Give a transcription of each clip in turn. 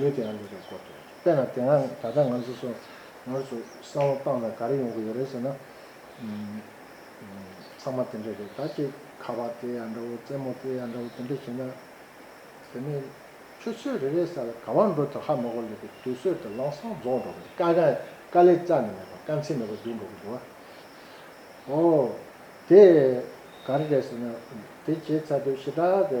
ཡོད་དེའང་ཡོད་པའི་སྐོར་དུ། དཔེར་ན་དེ་སྔ་ད་ལྟ་ང་ཚོས་སོ་ནར་ཚོ་བསམ་བློ་བཏང་ན་ག་རེ་ཡོང་གི་ཡོད་རེད་ཟེར་ན། ཚང་མ་དེ་འདྲ་རེད་ད་ཅེས་ཁ་བ་དེ་ཡང་འདྲ་བོ་རྩེད་མོ་དེ་ཡང་འདྲ་བོ་དེ་འདྲ་བྱས་ན། དེ་ནི་ཆུ་ཚོད་རེ་རེའི་སར་གང་བར་འགྲོ་དུས་ཧ་མོ་གོ་ལེགས་པའི་དུས་ཚོད་དུ་ལང་སང་རྫོགས་འགྲོ་བས་དཀའ་དཀའ་དཀའ་ལས་རྩ་ནས་མེད་པ་དཀའ་ཚེགས་མེད་པ་འདུག་འགྲོ་གི་འདུག་ཨོ། དེ་ག་རེ་རེད་ཟེར་ན། དེ་བྱས་ཚར་དུས་ཞེ་དྲག་གི་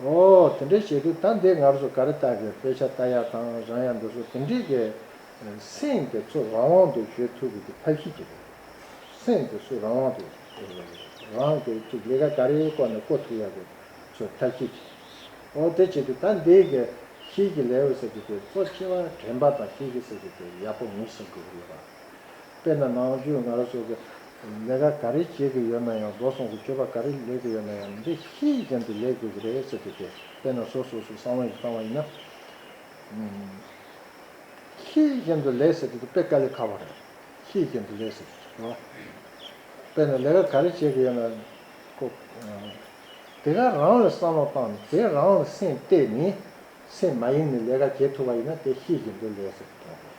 ཨོའོ། དེ་འདྲ་བྱེད་དུས་ད་འདི་ང་རོ་སུ་ག་རེ་བལྟ་དགོས་དཔེ་ཆ་ལྟ་ཡག་དང་རང་ཡག་འདུག་སོ་དེ་འདྲི་དགོས། སེམས་དེ་ཚོ་རང་དབང་དུ་བཞོལ་ཐུབ་དགོས་ཀྱི་ཐབས་ཤེས་ཀྱི་རེད། སེམས་དེ་སུ་རང་དབང་དུ་རང་གི་ཅིག་ལས་ཀ་ག་རེ་བསྐོ་ནས་བསྐོ་ཐུབ་ཡག་གི་ཚོ་ཐབས་ཤེས་ཀྱི་རེད། ཨོ་དེ་བྱེད་དུས་ད་འདི་གི་ཁྱེད་ཀྱི་ལེ་ཝོ་ཟེར་གྱི་དེ་གཙོ་ཆེ་བ་དྲན་པ་དང་ཁྱེད་ཀྱི་ཟེར་གྱི་དེ་ཡག་པོ་ངེས་ཟེར་དགོས་ཀྱི་ཡོད་པ། དཔེར་ན་ནང་ཆོས་འགའ་རེ་སོགས་ཀྱིས་ལས་ཀ་ག་རེ་བྱེད་གི་ཡོད་ན་ཡང་བཟོ་ཚོང་གི་སྤྱོད་པ་ག་རེ་ལས་ཀི་ཡོད་ན་ཡང་འདི་ཕྱི་ཡི་རྒྱན་དུ་ལས་དགོས་ཀི་རེད་ཟེར་གི་སྟེ་དཔེར་ན་བཟོ་སོ་སོ་གསང་བ་ཡིས་བཏང་བ་ཡིན་ན། ཕྱི་ཡི་རྒྱན་དུ་ལས་ཟེར་གི་འདུག་དཔེ་དཀའ་ལས་ཁག་པོ་རེད། ཕྱི་ཡི་རྒྱན་དུ་ལས་ཟེར་གི་འདུག་དཔེར་ན་ལས་ཀ་ག་རེ་བྱེད་གི་ཡོད་ན། དེ་ག་རང་ལ་བསམ་བློ་བཏང་ནས་དེ་རང་ལ་སེམས་གཏད་ནས་སེམས་མ་ཡིན་ནས་ལས་ཀ་བྱེད་ཐུབ་པ་ཡིན་ན་དེ་ཕྱི་ཡི་རྒྱན་དུ་ལས་ཟེར་གི་འདུག།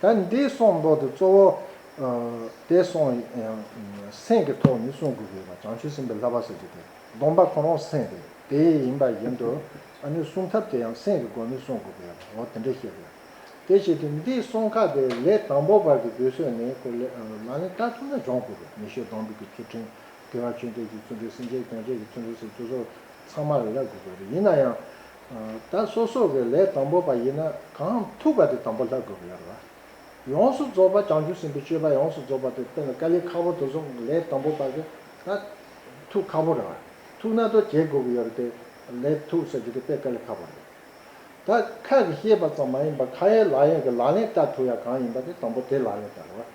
ད་འདི་གསུངས་མདོག་དེ་གཙོ་བོ། དེ་གསུངས་ཡང་སེམས་ཀྱི་ཐོག་ནས་གསུངས་དགོས་ཀྱི་ཡོད་པ་བྱང་ཆུབ་སེམས་དཔའི་ལྷ་བ་ཟེར་རྒྱུ་དེ་སྡོམ་པ་གོང་རོང་སེམས་དེ་དེ་ཡིན་པ་བཞིན་དུ། ཨ་ནུའི་གསུང་ཐབས་དེ་ཡང་སེམས་ཀྱི་སྒོ་ནས་གསུངས་དགོས་ཀྱི་ཡོད་པ་འོ་དེ་འདྲ་ཤེས་དགོས། དེ་བཞིན་དུ་འདི་གསུངས་ཁ་དེ་ལས་དང་པོ་བར་གྱི་དུས་ཚོད་ནི་ཀོ་ལེ་ལ་ནི་སྐྲ་ཐུང་ན་སྦྱོང་དགོས་པའི་ཉི་ཤུ་གདོང་འབུད་ཀྱི་ཚུལ་ཁྲིམས་དགེ་བ་ཆོས་འདོད་ཀྱི་ཚུལ་ཁྲིམས་སེམས་ཅན་སྐྱོང་བྱེད་ཀྱི་ཚུལ་ཁྲིམས་སོགས་ཚང་མར་ཡལ་དགོས་པ་རེད་ཡིན་ན་ཡང། ད་སོ་སོ་གི་ལས་དང་པོ་པ་ཡིན་ན་གང་ཐུབ་པ་དེ་དང་པོ་ལྷག་དགོས་པ་ཡོད་རེད་པ། ཡོངས་སུ་རྫོགས་པ་བྱང་ཆུབ་སེམས་དཔའི་སྤྱོད་པ་ཡོངས་སུ་རྫོགས་པ་དེ་དཔེ་ལ་ཀཱ་ལིའི་ཁ་བོ་དོ་བཟུང་ལས་དང་པོ་པ་གི་ད་ཐུག་ཁ་བོ་རེད་པ། ཐུག་ན་དོ་བྱེད་དགོས་ཀྱི་ཡོད་རེད་དེ་ལས་ཐུག་ཟེར་རྒྱུ་དེ་དཔེ་ཀཱ་ལི་ཁ་བོ་རེད། ད་ཁ་གི་ཤེས་པ་ཙམ་མ་ཡིན་པ་ཁ་ཡའི་ལག་ཡས་ཀྱི་ལག་ལེན་བསྟར་ཐུབ་ཡ་གང་ཡིན་པ་དེ་དང་པོ་དེ་ལག་ལེན་བསྟར་རེད་པ།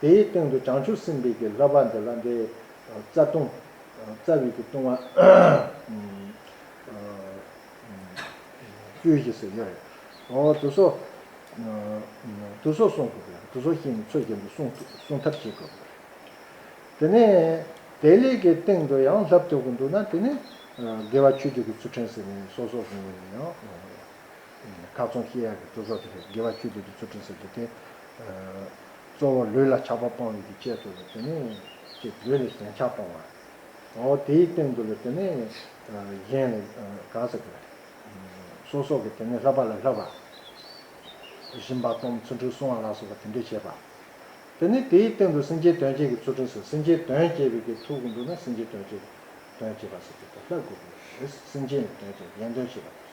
དེའི་སྟེང་དུ་བྱང་ཆུབ་སེམས་དཔའི་གྱི་ལྷ་བ་འདི་ལ་འདི། རྩ་ལྟུང། རྩ་བའི་གྱི་ལྟུང་བ། བཅུ་བཞི་སོགས་ཡོད་རེ། དུ་སོ། དུ་སོ་གསུངས་དགོས་པས་དུ་སོ་ཤིང་ནི་ཚོད་ཀྱིས་འདི་གསུངས་ཐབས་བྱེད་དགོས་པ་རེད། དེ་ནས། དེའི་ལས་ཀྱི་སྟེང་དུ་ཡང་ལྷབ་ཐོད་ཀྱི་འདུག་ན་དེ་ནི། དགེ་བ་ཆོས་སྤྱོད་ཀྱི་ཚུལ་ཕྲན་ཟེར་ནས་སོ་སོར་བཟུང་བས་ཡང། མཐའ་བཙོང་ཤེས་ཡག་གི་གཙོ་གཟུགས་དེ་རེད། དགེ་བ་ཆོས་འདོད་ཀྱི་ཚུལ་ཁྲིམས་ཟེར་དུས་དེ། གཙོ་བོ་ལུས་ལ་ཆགས་པ་སྤང་ཡུལ་གྱི་དཔྱད་གཙོ་བོ་དེ་ནི། ཅེས་ལུས་ལ་ཞེན་ཆགས་སྤང་བ། འོ་དེའི་སྟེང་དུ་ལ་དེ་ནི། གཞན་ལ། གང་ཟེར་དགོས། སོ་སོགས་ཀྱི་དེ་ནི་ལྷག་པ་ལ་ལྷག་པ། བཞིན་པ་སྟོང་གསུམ་འཁྲུལ་སོང་བ་ལ་སོགས་པ་དེ་འདྲས་བྱེད་པ། དེ་ནི་དེའི་སྟེང་དུ་སེམས་ཅན་དོན་བྱེད་ཀྱི་ཚུལ་ཁྲིམས་ཟེར་སེམས་ཅན་དོན་བྱེད་པའི་གི་ཐུག་གི་འདུག་ན་སེམས་ཅན་དོན་བྱེད། དོན་བྱེད་པ་ཟེར་དུས་དེ་ལྷག་དགོས་པའི་རེད། སེམས་ཅན་ལ་དོན་བྱེད་གཞན་དོན་བྱེད་པ།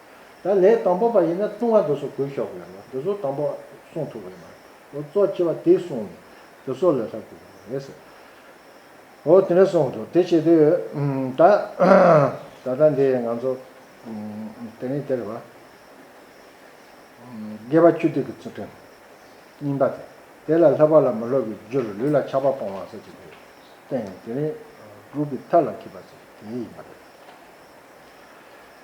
ད་ལས་དང་པོ་པ་ཡིན་ན་ལྟུང་བ་འདི་སོགས་གོས་ཤོག་གོས་ལ་འདི་སོགས་དང་པོ་གསུངས་ཐུབ་བས་ན་འོ་གཙོ་ཆེ་བ་དེ་གསུངས་ནས་འདི་སོགས་ལས་ལྷག་གོས་ཤོག་རེད་ཟེར། འོ་དེ་འདྲ་གསུངས་འདུག་དེ་བྱེད་དུས་ད་ད་ལྟ་འདི་ང་ཚོ་དེ་རིང་དེར་བ་དགེ་བ་ཆུ་ཐིགས་ཀྱི་ཚུལ་ཁྲིམས་རྙིང་པ་དེ་དེ་ལ་སློབ་པ་ལ་མི་སློབ་པའི་རྒྱུར་ལུས་ལ་ཆགས་པ་སྤོང་བ་སོགས་ཀྱི་དུས་དེ་ཡང་དེ་རིང་དྲུག་གི་མཐའ་ལ་འཁེལ་པ་སོགས་དེ་ཡིན་པ་རེད།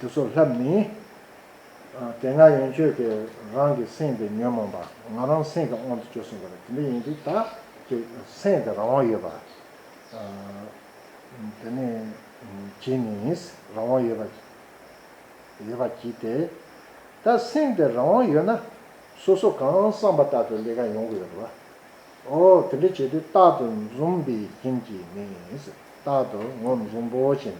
དུ་སོགས་ལྷ་མིན། དེ་སྔར་ཡོན་མཆོད་ཀྱི་རང་གི་སེམས་དེ་ཉོན་མོངས་པ་ང་རང་སེམས་ཀྱི་དབང་དུ་བཅུག་གསུངས་པ་ལ་དེ་འདྲ་ཡིན་དུས་བདག་གི་སེམས་དེ་རང་དབང་ཡོད་པ། དེ་ནས་གྱིས་ནི་རང་དབང་ཡོད་པ་གྱིས་ཏེ། ད་སེམས་དེ་རང་དབང་ཡོད་ན་སོ་སོ་གང་བསམ་པ་ལྟར་དུ་ལས་ཀ་ཡོང་གི་ཡོད་དོ། ཨོ་དེ་འདྲ་བྱེད་དུས་རྟག་ཏུ་འཛུམ་པའི་རྐྱེན་གྱིས་མིན། རྟག་ཏུ་ངོ་མི་འཛུམ་བོ་བྱེད་མིན།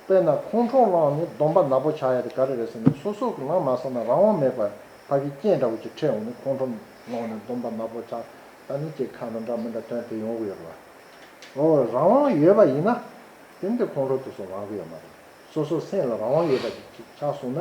དཔེར་ན་ཁོང་ཁྲོ་བསླངས་ནས་སྡོམ་པ་ནག་པོ་བྱ་ཡ་དེ་ག་རེ་རེད་ཟེར་ནས་སོ་སོ་གི་ནང་མ་བསམ་ན་རང་དབང་མེད་པར་ཕ་གི་རྐྱེན་འདྲ་བོ་ཅིག་འཕྲད་འོང་ནས་ཁོང་ཁྲོ་བསླངས་ནས་སྡོམ་པ་ནག་པོ་བྱ་ད་ནི་ཅེས་ཁ་ན་འདྲ་མི་འདྲ་དོན་དེ་ཡོང་གི་ཡོད་རེད། ཨོ་རང་དབང་ཡོད་པ་ཡིན་ན། དེ་འདི་ཁོང་ཁྲོ་དེ་ཚོ་ལངས་གི་ཡོད་མ་རེད། སོ་སོ་སེམས་ལ་རང་དབང་ཡོད་པ་ཅིག་ཆགས་སོང་ན་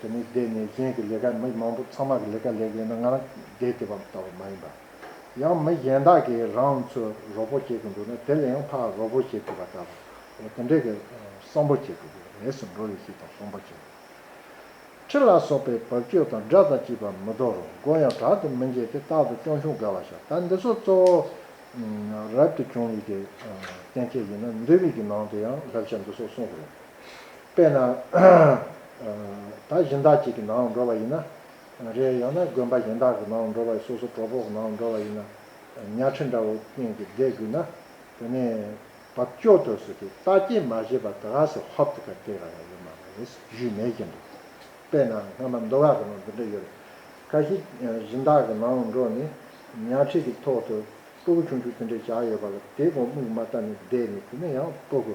དེ་ནི་སྡེ་ནས་གཞན་གྱི་ལས་ཀ་མི་མང་པོ་ཚང་མ་གི་ལས་ཀ་ལས་གཞན་ན་ང་རང་སྡེ་དེ་བ་ལྟ་བུ་མ་ཡིན་པ། ཡང་མི་གཞན་དག་གིས་རང་ཚོས་རོགས་པོ་བྱེད་དགོས་འདུག་ན་དེ་ལས་ཡང་ཕ་རོགས་པོ་བྱེད་དགོས་པ་ལྟ་བུ། དེ་འདྲའི་གི་བསམ་བོ་བྱེད་དགོས་གི་རེད་སུ་འགྲོ་རེ་ཞིག་དང་བསམ་བོ་བྱེད་དགོས། ཁྲི་ལ་སོགས་པའི་བབ་ཅོལ་དང་སྒྲ་དང་བཅས་པ་མི་དོ་རུང་མགོ་ཡང་དྲག་ཏུ་མི་འགྱེད་དེ་རྟག་ཏུ་སྐྱོང་ཤུགས་དགའ་བ་ཤ་སྟག་འདི་ཚོ་གཙོ་བོ། རབ་ཏུ་བྱུང་ཡིག་གི་བསྟན་བྱ་ཡིན་ན་འདུས་བིག་གི་ནང་དུ་ཡང་བསླབ་བྱ་འདི་ཚོ་གསུངས་རེད། དཔེར་ན། ད་གཞན་དག་ཅིག་གི་ནང་འགྲོ་བ་ཡིན་ན། རེད་ཡང་ན་དགོན་པ་གཞན་དག་གི་ནང་འགྲོ་བ་སོ་སོ་གྲོགས་པོ་གི་ནང་འགྲོ་བ་ཡིན་ན། ཉལ་ཁྲི་འདྲ་བོ་གྱེན་གྱིས་བསྡད་དགོས་ན། དེ་ནས་བབ་སྐྱོ་དུ་སོ་དེ་ལྟ་སྐྱེལ་མ་བྱས་པར་དགའ་སེ་ཧོབ་ཏུ་ཁ་སྐྱེལ་ག་ལ་ཡོད་མ་རེད་བཞུད་མེད་ཀྱིན་འདུག་དཔེར་ན་སྔ་མ་མདོ་སྒ་གི་ནང་འདི་འདྲ་ཡོད་རེད། ཁ་ཤི་གཞན་དག་གི་ནང་འགྲོ་ནས་ཉལ་ཁྲི་གི་ཐོག་ཏུ་སྤོ་གུ་ཆུང་ཆུང་དེ་འདྲ་བཞག་ཡོད་པ་ལ་དེ་གོང་སྨུག་མ་ལྟ་ནས་བསྡད་ནས་དེ་ནས་ཡང་སྤོ་གུ་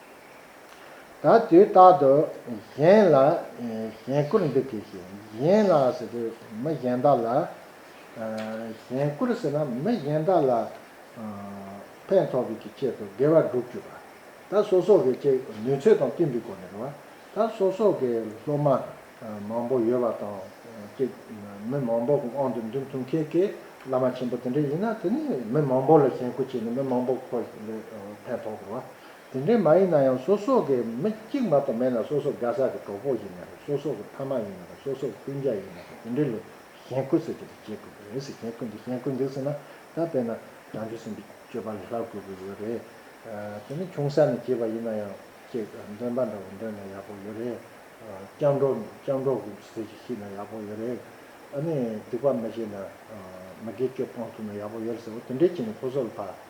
ད་དུས་རྟག་ཏུ་གཞན་ལ་གཞན་བཀུར་འདུག་གིས་ཤིག་གཞན་ལ་ཟེར་དུས་མི་གཞན་དག་ལ་གཞན་བཀུར་ཟེར་ན་མི་གཞན་དག་ལ་ཕན་ཐོགས་པའི་ཀྱི་ཆེད་དུ་དགེ་བ་བསྒྲུབ་བཅུག་པ། ད་སོ་སོ་གི་ཅིག་ནུས་ཚོད་དང་བསྟུན་པའི་སྒོ་ནས་རེ་བ། ད་སོ་སོ་གི་སློབ་མ་མང་པོ་ཡོད་པ་དང་ཅིག་མི་མང་པོ་གི་དབང་དུ་འདུས་ཐུབ་མཁན་གྱི་བླ་མ་ཆེན་པོ་དེ་འདྲ་ཡིན་ན་དེ་ནི་མི་མང་པོ་ལ་གཞན་བཀུར་བྱས་ནས་མི་མང་པོ་ཁོ་ལས་ཕན་ཐོགས་དགོས་བ། དེ་འདྲའི་མ་ཡིན་ན་ཡང་སོ་སོ་གི་མི་གཅིག་མ་གཏོགས་མེད་ན་སོ་སོ་རྒ་ཟ་གི་གྲོགས་པོ་ཡིན་ན་རེད་སོ་སོ་གི་ཕ་མ་ཡིན་ན་རེད་སོ་སོ་གི་སྤུན་མཇལ་ཡིན་ན་རེད་དེ་འདྲའི་ལོ་གཞན་ཁུ་ཟེར་གྱི་རེད་བྱེད་དགོས་ཀྱི་རེད་ཟེར་གཞན་ཁུ་འདི་གཞན་ཁུ་འདི་ཟེར་ན་ད་དཔེར་ན་རང་བྱུང་སེམས་པའི་སྤྱོད་པ་ལས་ལྷག་དགོས་པོ་ཡོད་རེད་དེ་ནི་ཆུང་ས་ནས་བྱས་པ་ཡིན་ན་ཡང་ཅེས་འདོན་པ་འདྲ་བོ་འདོན་ན་ཡག་པོ་ཡོད་རེད་སྤྱང་གྲོགས་སྤྱང་གྲོགས་ཀུན་གྱི་ཟེར་གྱི་ཤེས་ན་ཡག་པོ་ཡོད་རེད་ཨ་ནི་སྡིག་པ་མི་བྱེད་ན་མི་དགེ་སྤྱོད་སྤང་ཐུབ་ན་ཡག་པོ་ཡོད་རེད་ཟེར་བ་དེ་འདྲའི་བྱས་ན་ཁོ་སོ་ལ་ཕ།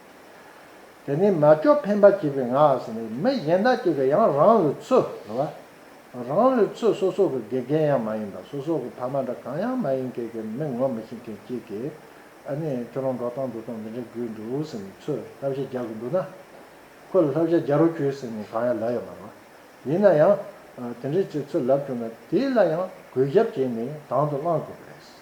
དེ་ནས་མ་ལྕོགས་འཕེན་པ་བྱེད་པའི་ངག་ནི་མི་གཞན་དག་ཅིག་གི་ཡང་རང་ལུས་ཚུལ་བ། རང་ལུས་ཚུལ་སོ་སོ་གི་དགེ་རྒན་ཡང་མ་ཡིན་པ་སོ་སོ་གི་ཕ་མ་འདྲ་གང་ཡང་མ་ཡིན་ཁྱེད་ཀྱི་མི་ངོ་མི་ཤེས་མཁན་གཅིག་གིས་ཨ་ནི་ཁྱོད་རང་འགྲོ་སྟངས་འདུག་སྟངས་འདི་འདྲ་དགོས་འདུག་ཟེར་ནས་ཚུལ་བསླབ་བྱ་རྒྱག་གི་འདུག་ན། ཁོ་ལ་བསླབ་བྱ་རྒྱག་རོགས་གྱོས་ཟེར་ནས་གང་ཡང་ལབ་ཡ་མ་རེད། ཡིན་ན་ཡང། དེ་འདྲའི་ཚུལ་ལབ་བྱུང་ན་དེ་ལ་ཡང་གུས་ཞབས་བྱས་ནས་དང་དུ་བླང་དགོས་པ་རེད།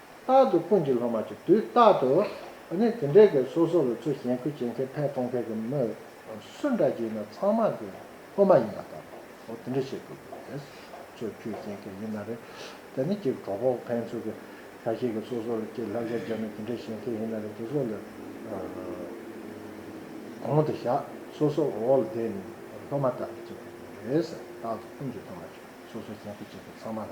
རྟག་ཏུ་ཀུན་གྱི་སློབ་མ་ཀྱི་དུས་རྟག་ཏུ་ནི་དེ་འདྲའི་གེགས་སོ་སོ་ལ་ཚུལ་བཞིན་ཁུར་བྱེད་མཁན་ཕན་གཏོང་མཁན་གྱི་མི་སུ་འདྲ་ཞིག་ཡིན་ན་ཚང་མ་གི་སློབ་མ་ཡིན་པ་ལྟ་བུ་དེ་འདྲ་ཞིག་ཏུ་གྱུར་ཏེ། ཚུལ་ཁུར་བྱེད་མཁན་ཡིན་ན་རེ་དེ་ནི་གེགས་གྲོགས་པོ་ཕན་ཚུན་གྱི་ཁ་ཞེ་གེགས་སོ་སོ་ལ་གཅིག་ལྷག་ཆ་བྱས་ན་དེ་འདྲ་བྱེད་མཁན་ཡིན་ན་རེ་དེ་སོ་ལ་གོང་དུ་བཞག་སོ་སོ་འོག་ལ་བསྡད་ནས་སློབ་མ་ལྟ་བུ་བྱེད་མཁན་ཡིན་པ་རེད། རྟག་ཏུ་ཀུན་གྱི་སློབ་མ་ཀྱི་སོ་སོ་བཞིན་ཁུར་བྱེད་མཁན་ཚང་མ་ལ།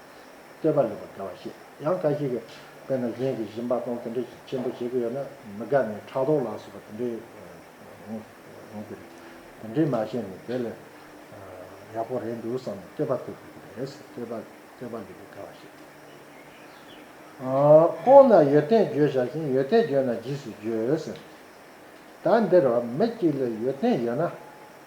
བསྟོད་པ་ལེགས་པར་དགའ་བར་བཤད། ཡང་འགའ་ཞིག་གིས་དཔེར་ན་གཞན་གྱིས་བཞིན་པ་དང་དེ་འདྲའི་ཞིག་ཆེན་པོ་བྱེད་ཀྱི་ཡོད་ན་མི་དགའ་ནས་ཕྲག་དོག་ལ་སོགས་པ་དེ་འདྲའི་ཡོང་གི་རེད། དེ་འདྲའི་མ་བཤད་ནས་དེ་ལས་ཡག་པོ་རེད་འདུག་བསམ་ནས་བསྟོད་པ་ཐོབ་དགོས་ཀྱི་རེད། བསྟོད་པ་བསྟོད་པ་ལེགས་པར་དགའ་བར་བཤད། ཁོང་ན་ཡོད་ཐེངས་བརྗོད་བཞག་ཤིང་ཡོད་ཐེངས་བརྗོད་ན་རྗེས་སུ་བརྗོད་ཟེར། ད་འདིར་མི་གཅིག་ལ་ཡོད་ཐེངས་ཡོད་ན།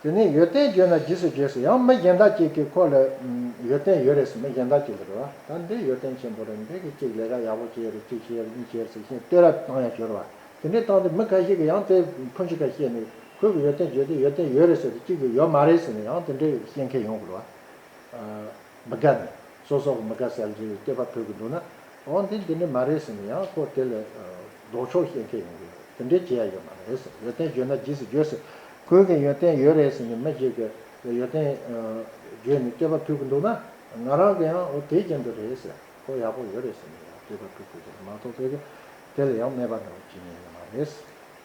དེ་ནས་ཡོད་ཏན་བརྗོད་ན་རྗེས་སུ་རྗེས་སུ་ཡང་མི་གཞན་དག་ཅིག་གིས་ཁོ་ལ། ཡོད་ཏན་ཡོད་རེད་ཟེར་མི་གཞན་དག་ཅིག་ལ་རེ་བ་ད་འདི་ཡོད་ཏན་ཆེན་པོ་རེད་འདི་གིས་ཅིག་ལས་ཀ་ཡག་པོ་བྱས་རེད་ཅིག་བྱས་རེད་གཉིས་བྱས་རེད་ཟེར་བཞིན་ལྟོས་ར་བཏང་ཡང་ཞོར་བ་དེ་འདྲས་བཏང་སྟེ་མི་ག་ཞིག་གིས་ཡང་དེ་ཕུན་ཅི་ག་བཤད་ནས་ཁོས་གི་ཡོད་ཏན་བརྗོད་དེ་ཡོད་ཏན་ཡོད་རེད་ཟེར་དེ་གཅིག་གིས་ཡོད་མ་རེད་ཟེར་ནས་ཡང་དེ་འདྲས་བཤད་མཁན་ཡོང་དགོས་ལ། མི་དགའ་ནས། སོ་སོར་མི་དགའ་སེལ་རྒྱུའི་སྐད་པ་ཐོས་ཀྱི་འདུག་ན། འོ་འདི་འདི་ནི་མ་རེད་ཟེར་ནས་ཡང་ཁོ་དེ་ལས་ལྡོག་ཕྱོགས་བཤད་མཁན་ཡོང་གི་ཡོད་རེད། དེ་འདྲའི་བྱེད་ཡ་ཡོད་མ་རེད། ཡོན་ཏན་བརྗོད་ན་རྗེས་སུ་འགྱོད་ཟེར། ཁོའི་གིན་ཡོན་ཏན་ཡོད་རེད་ཟེར་ནས་མི་བརྗེད་ཀྱི། ཡོན་ཏན་བརྗོད་ནས་སྐད་པ་ཐོས་ཀྱི་འདུག་ན། ང་རང་གིས་ཡང་འོ་དེ་ཅན་དུ་རེད་ཟེར། ཁོ་ཡག་པོ་ཡོད་རེད་ཟེར་ནས་ཡང་སྐད་པ་ཐོས་དགོས་ཀྱི་རེད་མ་གཏོགས་དཔེ་གི་དེ་ལས་ཡང་དམའ་བ་ནོར་བ་ཅི་ཡང་ཡོད་མ་རེད།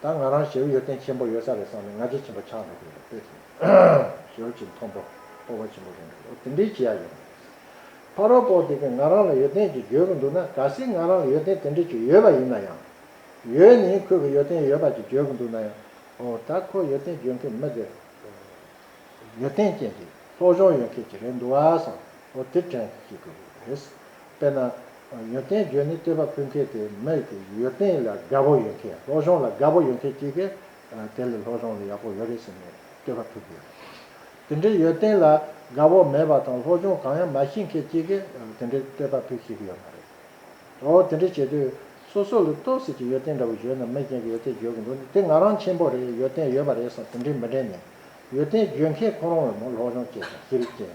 ད་ང་རང་ཞེའུ་ཡོད་སྟེང་ཆེན་པོ་ཡོད་ས་རེད་བསམ་ནས་ང་རྗེ་ཆེན་པོ་ཆགས་འགྲོ་གི་རེད་དཔེ་དེ་ཞེའུ་ཆེན་མཐོན་པོ་སྤོ་བ་ཆེན་པོ་རེད་འདུག་འོ་དེ་འདྲའི་བྱེད་ཡག་ཡོད་རེད། ཕ་རོལ་པོ་དེ་གས་ང་རང་ལ་ཡོད་སྟེང་ཅིག་བརྗོད་གི་འདུག་ན་ག་སྲིད་ང་རང་ལ་ཡོད་སྟེང་དེ་འདྲ་ཅིག་ཡོད་པ་ཡིན་ན་ཡང། ཡོད་ནི་ཁོས་གི་ཡོད་སྟེང་ཡོད་པ་ཅིག་བརྗོད་གི་འདུག་ན་ཡང། འོ་ད་ཁོས་ཡོད་སྟེང་བརྗོད་མཁན་མི་དེ། ཡོད་སྟེང་ཅན་གྱི་སློབ་སྦྱོང་ཡོད་མཁན་ཅིག་རེད་འདུག་བ་བསམ། འོ་དེ་དྲན་གི་ཅིག་གི་རེད། དཔེར་ན། ཡོན་ཏན་བརྗོད་ནི་སྤྲས་པ་ཕུལ་མཁན་དེ་མེད་ཀི་ཡོད་ཏན་ལ་དགའ་བོ་ཡོད་མཁན་སློབ་སྦྱོང་ལ་དགའ་བོ་ཡོད་མཁན་གཅིག་གིས་དེ་ལས་སློབ་སྦྱོང་ལ་ཡག་པོ་ཡོད་རེད་ཟེར་ནས་སྤྲས་པ་ཕུལ་གི་ཡོད། དེ་འདྲའི་ཡོད་ཏན་ལ་དགའ་བོ་མེད་པ་དང་སློབ་སྦྱོང་གང་ཡང་མ་ཤེས་མཁན་གཅིག་གིས་དེ་འདྲའི་སྤྲས་པ་ཕུལ་ཤེས་ཀི་ཡོད་མ་རེད། འོ་དེ་འདྲ་བྱེད་དུས་སོ་སོ་ལ་ལྟོས་ཟེར་གྱི་ཡོད་ཏན་འདྲ་བོ་བརྗོད་ན་མི་གཞན་གྱི་ཡོད་ཏན་བརྗོད་གི་འདུག་ནི་དེ་ང་རང་ཆེན་པོ་རེད་ཡོད་ཏན་ཡོད་པ་རེད་བསམ་དེ་འདྲའི་མི་དྲན་ནས་ཡོད་ཏན་བརྗོད་མཁན་ཁོ་རང་བས་མོ་སློབ་སྦྱོང་བྱས་ཀྱང་ཤེས་རིག་ཅན།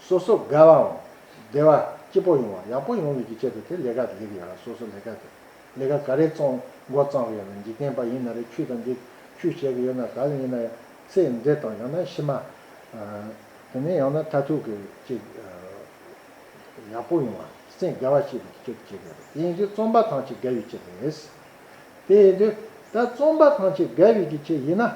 སོ་སོ་དགའ་བའོ། བདེ་བ་སྐྱིད་པོ་ཡོང་བ་ཡག་པོ་ཡོང་བའི་གི་ཆེད་དུ་དེ་ལས་ཀ་ལེགས་ཡོད་ལ་སོ་སོ་ལས་ཀ་དེ་ལས་ཀ་ག་རེ་བཙོང་མགོ་བརྩམས་ཡོད་ལ་འཇིག་རྟེན་པ་ཡིན་ན་རེ་ཁྱུ་དང་འདི་ཁྱུ་བྱས་གི་ཡོད་ན་ག་ལ་ཡིན་ན་ཚེ་འདས་དང་ཡང་ན་ཕྱི་མ། དེ་ནས་ཡང་ན་མཐའ་ཐུག་གི་ཅིག་ཡག་པོ་ཡོང་བ་སེམས་དགའ་བ་བྱེད་པའི་གི་ཆེད་དུ་བྱས་གི་ཡོད་དེ་ཡིན་དུས་བཙོང་པ་ཐང་ཆེ་དགའ་བའི་ཆེད་རེད། དེ་ཡིན་དུས་ད་བཙོང་པ་ཐང་ཆེ་དགའ་བའི་གི་ཆེད་ཡིན་ན།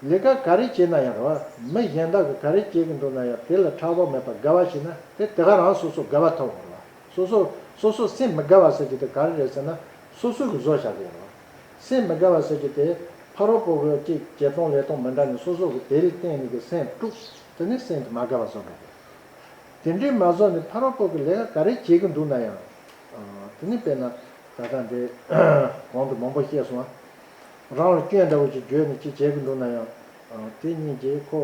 ལས་ཀ་ག་རེ་བྱས་ན་ཡང་རུང་བ་མི་གཞན་དག་གིས་ག་རེ་བྱེད་ཀྱི་འདུག་ན་ཡང་དེ་ལ་ཕྲག་དོག་མེད་པར་དགའ་བ་བྱས་ན་དེ་དེ་ག་རང་སོ་སོར་དགའ་བ་ཐོབ་ཨང་རུང་བ། སོ་སོ་སོ་སོར་སེམས་མི་དགའ་བ་ཟེར་རྒྱུ་དེ་ག་རེ་རེད་ཟེར་ན་སོ་སོའི་གི་བཟོ་བྱ་དགོས་རུང་བ། སེམས་མི་དགའ་བ་ཟེར་རྒྱུ་དེ་ཕ་རོལ་པོ་བོས་ཅི་བྱས་སྟོང་ལས་སྟོང་མི་འདྲ་ནི་སོ་སོ་གི་དེ་ལས་བརྟེན་ནས་གི་སེམས་དཀྲུགས་ཟེར་ནས་སེམས་དེ་མ་དགའ་བ་བཟོ་དགོས་རེད། དེ་འདྲའི་མ་བཟོ་ནས་ཕ་རོལ་པོ་གི་ལས་ཀ་ག་རེ་བྱེད་ཀྱི་འདུག་ན་ཡང་རུང་བ། དེ་ནས་དཔེར་ན་ད་ལྟ་འདི་གོང་དུ་མང་པོ་བཤད་སོང་བ། རང་ལ་སྐྱོན་འདྲ་བོ་ཅིག་བརྗོད་ནས་ཅིག་བྱེད་ཀྱི་འདུག་ན་ཡང། དེ་གཉིས་ཀྱིས་ཁོ་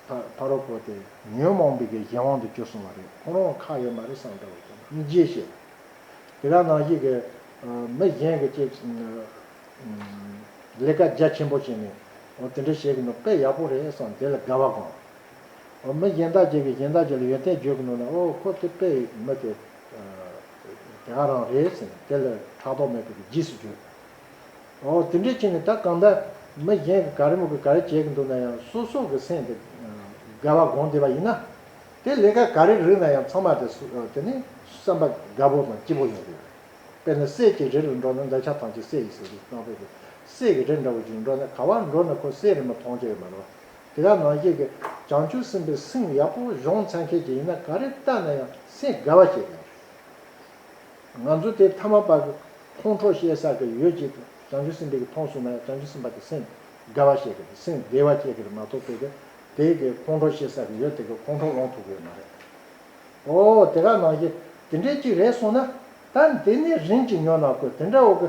བོཕ་རོག་བོ་སྟེ། ཉོན་མོངས་པའི་གཞན་དབང་དུ་བསྐྱུར་སོང་བ་རེད་ཁོང་རང་ལ་ཁག་ཡོད་མ་རེད་བསམ་འདྲ་བོ་ཅིག་ནི་རྗེས་བཤད། དེ་ག་ནང་ཞིག་གིས། མི་གཞན་གྱི་ཅིག། ལས་ཀ་རྒྱ་ཆེན་པོ་བྱས་ནས། དེ་འདྲ་བྱེད་ཀྱི་འདུག་དཔེ་ཡག་པོ་རེད་བསམ་དེ་ལ་དགའ་བ་དགོངས། མི་གཞན་དག་ཅིག་གིས་གཞན་དག་ཅིག་ལ་ཡོན་ཏན་བརྗོད་ཀྱི་འདུག་ན་ཨོ་ཁོ་དེ་དཔེ་མི་དེ། དེ་ག་རང་རེད་ཟེར་ནས་དེ་ལ་ཕྲག་དོག་མེད་པའི་རྗེས་སུ་བརྗོད། ཨོ། དེ་འདྲའི་ཆེད་ནས་ད་གང་ལྟར། མི་གཞན་གྱི་ག་རེ་མོ་གི་ག་རེ་བྱས་ཀྱི་འདུག་ན་ཡང་སོ་སོ་གི་སེམས་དེ། དགའ་བ་དགོངས་བདེ་བ་ཡིན་ན། དེ་ལས་ཀ་ག་རེ་རིགས་ན་ཡང་ཚང་མ་དེ། དེ་ནི་བསམ་པ་དགའ་བོ་དང་སྐྱིད་བོ་ཡོང་གི་ཡོད། དཔེར་ན་སྲས་ཀྱི་རེ་ལ་འགྲོ་ན་འདོད་ཆགས་ཐང་ཅིག་སྲས་ཡིན་ཟེར་གྱི་སྣང་བས་ཀྱི། སྲས་ཀྱི་རེ་འདྲ་བོ་ཞིག་འགྲོ་ན་ག་བར་འགྲོ་ན་ཁོ་སྲས་རེ་མོ་ཐོང་ཆོག་ཡོད་མ་རེད། དེ་ག་ནང་བཞིན་གྱི་བྱང་ཆུབ་སེམས་དཔའི་སེམས་ཡག་པོ་གཞོང་ཚད་མཁས་ཅིག་ཡིན་ན་ག་རེ་བལྟ་ན་ཡང་སེམས་དགའ་བ་ཞིག་རེད། ང་ཚོ་དེ་མཐའ་མ་པར་ཁོང་ཁྲོ་ཤེས་ས་གི་ཡོད་ཅིག་བྱང་ཆུབ་སེམས་དཔའ་གི་མཐོང་གསུངས་ན་ཡང་བྱང་ཆུབ་སེམས་དཔའ་དེ་སེམས་དགའ་བ་ཤེས་གི་རེད་སེམས་བདེ་བ་སྐྱེས་གི་རེད་མ་གཏོགས་དེ་གི་དེ་གི་ཁོང་ཁྲོ་ཤེས་ས་གི་ཡོད་དེ་གི་ཁོང་ཁྲོ་སློང་ཐུབ་གི་ཡོད་མ་རེད། ཨོ་དེ་ག་ནང་བཞིན་དེ་འདྲས་ཅིག་རེད་གསུངས་ན་ད་འདི་ནས་རིང་ཅིག་ཉོ་ན་དགོས་དེ་འདྲ་འོ་གི་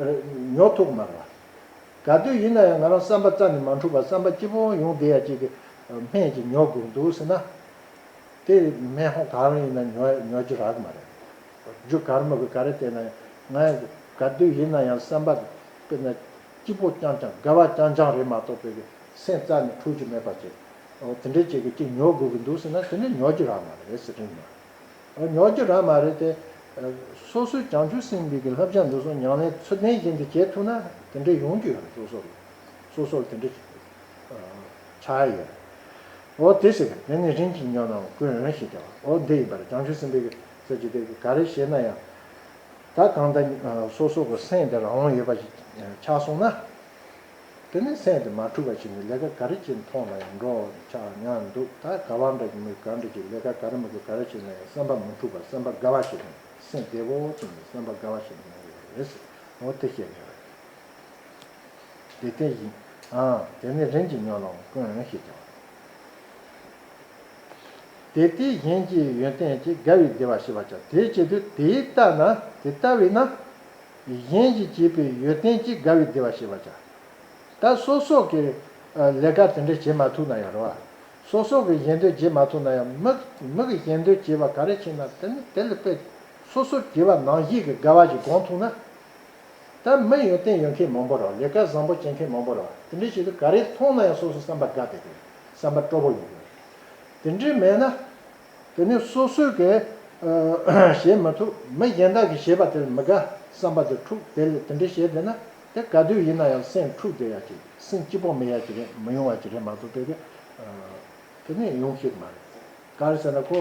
རེད་ཉོ་ཐུབ་གི་མ་རེད་བ། ག་དུས་ཡིན་ན་ཡང་ང་རང་བསམ་པ་རྩ་ནས་མ་འཁྲུགས་པར་བསམ་པ་སྐྱིད་པོ་ཡོང་བསྡད་ཡ་ཅིག་གི་སྨད་ཅིག་ཉོ་དགོས་གི་འདུག་ཟེར་ན། དེ་མེད་ཧོ་ག་རང་ཡིན་ན་ཉོ་ཉོ་རྒྱུ་རག་མ་རེད། རྒྱུ་གར་མི་དགོས་ག་རེ་བལྟས་ན་ང་ག་དུས་ཡིན་ན་ཡང་སེམས་པ་དཔེར་ན་སྐྱིད་པོ་རྐྱང་རྐྱང་དགའ་བ་རྐྱང་རྐྱང་རེད་མ་གཏོགས་པའི་སེམས་རྩ་ནས་འཁྲུག་རྒྱུ་མེད་པ་ཅིག་དེ་འདྲའི་ཅིག་གི་ཅིག་ཉོ་དགོས་ཀྱི་འདུག་ཟེར་ན་དེ་ནི་ཉོ་རྒྱུ་རག་མ་རེད་ཟེར་རིན་མོད། ཉོ་རྒྱུ་རག་མ་རེད་དེ། སོ་སོའི་བྱང་ཆུབ་སེམས་གཉིས་ཀྱི་བསླབ་བྱ་འདི་སོང་མྱངས་ལན་ཚུར་ལྡན་བཞིན་དུ་བྱེད་ཐུབ་ན་དེ་འདྲའི་ཡོང་རྒྱུ་ཡོད་རེད་སོ་སོར་སོ་སོར་དེ་འདྲ་བྱ་ཡི་ཡོད། འོ་དེ་ཞིག་དེ་ནི་རིན་གྱིས་ཉོ་ནའང་ཀུན་འོན་ཞིག་སྟེ། འོ་འདི་ཡིན་པར་བྱང་ཆུབ་སེམས་དཔའི་གསེར་གྱི་གཏེར་གྱིས་ག་རེ་བྱེད་ན་ཡང། ད་གང་ལྟར་སོ་སོ་གོ་སེམས་དེ་རང་དབང་ཡོད་པ་ཞིག་ཆགས་སོང་ན། དེ་ནས་སེམས་དེ་མ་འཁྲུལ་བ་ཞིག་ནི་ལས་ཀ་ག་རེ་བྱེད་མཐོང་ན་ཡང་འགྲོ་ཆགས་ཉག་འདུག་ད་ག་བ་འདྲ་གི་མི་ག་འདྲ་གིས་ལས་ཀ་ག་རེ་མི་དགོས་ག་རེ་བྱེད་ན་ཡང་སེམས་པ་མི་འཁྲུལ་བ་སེམས་པ་དགའ་བ་ཞིག་ནི་སེམས་བདེ་བོ་ཅིག་ནི་སེམས་པ་དགའ་བ་ཞིག་ནི་ཡོད་རེད། འོ་དེ་བཤད་ནས། དེ་སྐད་བཞིན། དེ་ནས་རིམ་གྱིས་ཉོན་ལོང་ཀུན་ཞེས་བྱ་བ། དེ་དེ་བཞིན་གྱི་ཡོན་ཏན་གྱིས་དགའ་བའི་བདེ་བ་ཞི་བར་བྱ། དེའི་ཕྱིར་དུ་དེའི་རྟགས་ན་དེ་ལྟ་བས་ན། གཞན་གྱིས་བྱས་པའི་ཡོན་ཏན་གྱིས་དགའ་བའི་བདེ་བ་ཞི་བར་བྱ། ད་སོ་སོགས་ཀྱིས་ལས་ཀ་དེ་འདྲ་བྱེད་མ་ཐུབ་ན་ཡང་རུང་བ། སོ་སོགས་ཀྱིས་གཞན་དོན་བྱེད་མ་ཐུབ་ན་ཡང་མི་གིས་གཞན་དོན་བྱེད་པ་ག་རེ་བྱེད་ན་དེ་ནི་དེ་ལ་དཔེ། སོ་སོར་གྱེས་པ་ནང་བཞིན་གྱི་དགའ་བ་ཞིག་གང་ཐུག་ན། ད་མི་ཡོན་ཏན་ཡོད་མཁན་མང་པོ་རོགས་ལས་ཀ་བཟང་པོ་བྱེད་མཁན་མང་པོ་རོགས་དེ་འདྲའི་ཞིག་ཏུ་ག་རེ་མཐོང་ན་ཡང་སོ་སོ་བསམ་པ་དགའ་བདེ་དགོས་བསམ་པ་སྤྲོ་བོ་ཡོད་དགོས་དེ་འདྲའི་མེད་ན། དེ་ནི་སོ་སོས་གས་བྱེད་མི་ཐུབ་མི་གཞན་དག་གིས་བྱེད་པ་དེ་ལ་མི་དགའ་བསམ་པ་དེ་འཁྲུགས་བདེ་ལས་དེ་འདྲའི་བྱེད་བདེ་ན་དེ་ག་དུས་ཡིན་ན་ཡང་སེམས་འཁྲུགས་བདེ་ཡག་གི་སེམས་སྐྱིད་པོ་མི་ཡག་གི་རེད་མི་ཡོང་བ་གི་རེད་མ་གཏོགས་དེ་དེ་ནི་ཡོང་གི་མ་རེད། གར་ཟེར་ན་ཁོ།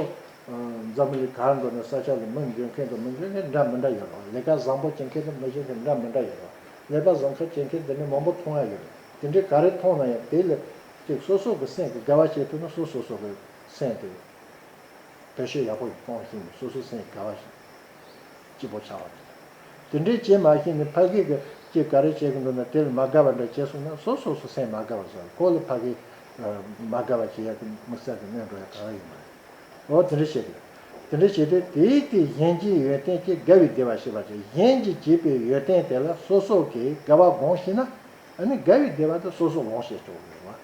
འཛམ་བུ་གླིང་གར་འགྲོ་ནས་ས་ཕྱོགས་ལ་མི་འབྱོན་མཁན་དང་མི་འབྱོན་མཁན་འདྲ་མི་འདྲ་ཡོད་རེད། ལས་ཀ་བཟང་པོ་བྱེད་མཁན་དང་མི་བྱེད་མཁན་འདྲ་མི་འདྲ་ཡོད་རེད། ལས་ཀ་བཟང་ཁ་བྱེད་མཁན་དེ་འདྲ་མང་པོ་མཐོང་ཡ་ཡོད་རེད། དེ་འདྲ་ག་རེ་མཐོང་ན་ཡང་དེ་ལས། གཅིག་སོ་སོ་གི་སེམས་ཀྱི་དགའ་བ་ཤེས་ཐུབ་ན་སོ་སོ་སོ་གི་སེམས་དེ། དོད་ཤོས་ཡག་པོ་ཞིག་གཏོང་ཞིང་སོ་སོའི་སེམས་ཀྱི་དགའ་བ་ཞིག། སྐྱིད་པོ་ཆགས་པ་རེད། དེ་འདྲའི་བྱེད་མ་ཤེས་ནས་ཕ་གིའི་ཀྱིས་ག་རེ་བྱེད་གི་འདུག་ན་དེ་ལ་མ་དགའ་བ་འདྲ་བྱེད་སོང་ན་སོ་སོ་སོ་སེམས་མ་དགའ་བ་བཟོ་ལ་ཁོ་ལ་ཕ་གིས་མ་དགའ་བ་བྱེད་ཡག་གི་མི་གསར་གི་གནས་འགྲོ་ཡག་ག་ལ་ཡོད་མ་རེད། འོ་དེ་འདྲ་བྱེད་དགོས། དེ་འདྲ་བྱས་ཏེ་དེའི་དེ་གཞན་གྱིས་ཡོན་ཏན་གྱིས་དགའ་བའི་བདེ་བ་ཤེས་པར་བྱ་གཞན་གྱིས་བྱས་པའི་ཡོན་ཏན་དེ་ལ་སོ་སོ་གིས་དགའ་བ་དགོངས་ཤེས་ན་ཨ་ནི་དགའ་བའི་བདེ་བ་དེ་སོ་སོ་དགོངས་ཤེས་ཆོག་གི་རེད།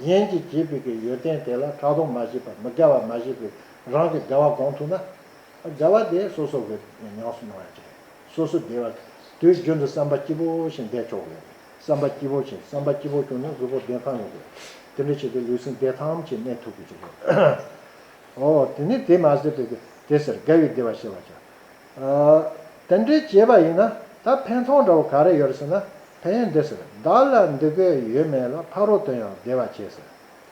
གཞན་གྱིས་བྱས་པའི་གི་ཡོན་ཏན་དེ་ལ་ཕྲག་དོག་མ་བྱེད་པར་མི་དགའ་བ་མ་བྱེད་པའི་རང་གི་དགའ་བ་དགོངས་ཐུབ་ན་བྱ་བ་དེ་སོ་སོ་གི་ཉམས་སུ་མྱོང་ཡང་ཆེ། སོ་སོ་བདེ་བ་དེའི་རྒྱུན་དུ་བསམ་པ་སྐྱིད་པོ་ཞིག་འདེགས་ཆོག་གི། བསམ་པ་སྐྱིད་པོ་ཞིག་བསམ་པ་སྐྱིད་པོ་བྱུང་ན་གཟུགས་པོ་བདེ་ཐང་ཡོང་གི། དེ་འདྲ་བྱས་ཏེ་ལུས་སེམས་བདེ་ཐང་ཞིག་གནས་ཐུབ་ཀྱི་ཆོག་གི། ཨོ། དེ་ནི་དེ་མ་ཟད་པའི་དེ་ཟེར་དགའ་བའི་བདེ་བ་ཤེས་པར་བྱ། དེ་འདྲ་བྱས་པ་ཡིན་ན་ད་ཕན་ཚུན་འདྲ་བོ་ག་རེ་ཡོད་རེད་ཟེར་ན་ཕན་ཡོན་འདི་ཟེར་བདག་ལ་འདི་དགོས་ཡོད་མེད་ལ་ཕ་རོལ་དོན་ཡང་བདེ་བ་བྱས་ཟེར།